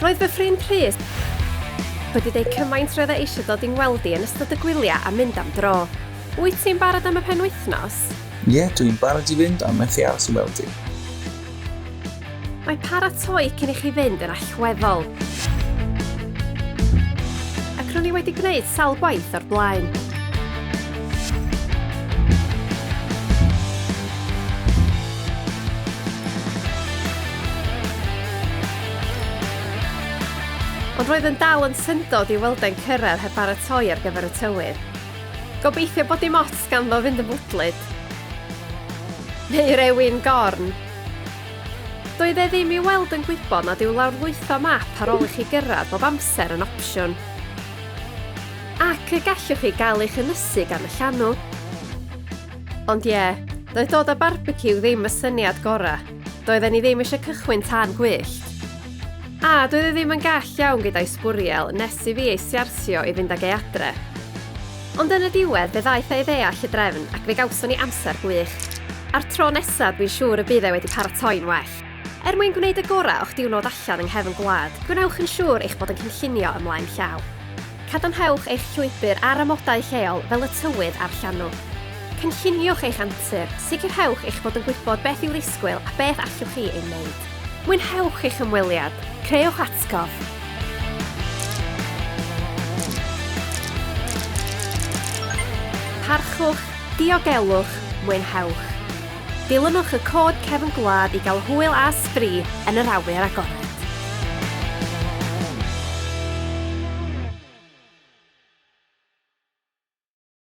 Roedd fy ffrind Rhys wedi dweud cymaint roedd e eisiau dod i'n weld i yn ystod y gwyliau a mynd am dro. Wyt ti'n barod am y penwythnos? Ie, dw i'n barod i fynd a methu aros i weld i. Mae paratoi cyn i chi fynd yn allweddol. Ac ro'n i wedi gwneud sawl gwaith o'r blaen. Ond roedd yn dal yn syndod i Wildai'n cyrraedd heb baratoi ar gyfer y tywydd. Gobeithio bod dim ots ganddo fynd yn fwdlyd. Neu rewin gorn. Doedd e ddim i weld yn gwybod nad yw lawrlwytho map ar ôl i chi gyrraedd bob amser yn opsiwn. Ac y gallwch chi gael eich ynysu gan y llanw. Ond ie, doedd dod â barbeciw ddim y syniad gorau. Doedden ni ddim eisiau cychwyn tan gwyllt. A, doedd e ddim yn gall iawn gyda'i sbwriel nes i fi ei siarsio i fynd ag e adre. Ond yn y diwedd, fe ddaeth e i ddeall y drefn ac fe gawson ni amser gwych. A'r tro nesaf, dwi'n siŵr y bydd e wedi paratoi'n well. Er mwyn gwneud y gorau o'ch diwrnod allan yng nghefn gwlad, gwnewch yn siŵr eich bod yn cynllunio ymlaen llaw. Cadarnhewch eich llwybr ar amodau lleol fel y tywydd a'r llanw. Cynlluniwch eich antur, sicrhewch eich bod yn gwybod beth i'w ddisgwyl a beth allwch chi ei wneud. Mwynhewch eich ymweliad, creuwch atgof! Parchwch, diogelwch, mwynhewch! Dilynwch y cod cefn gwlad i gael hwyl a sbri yn yr awyr agored.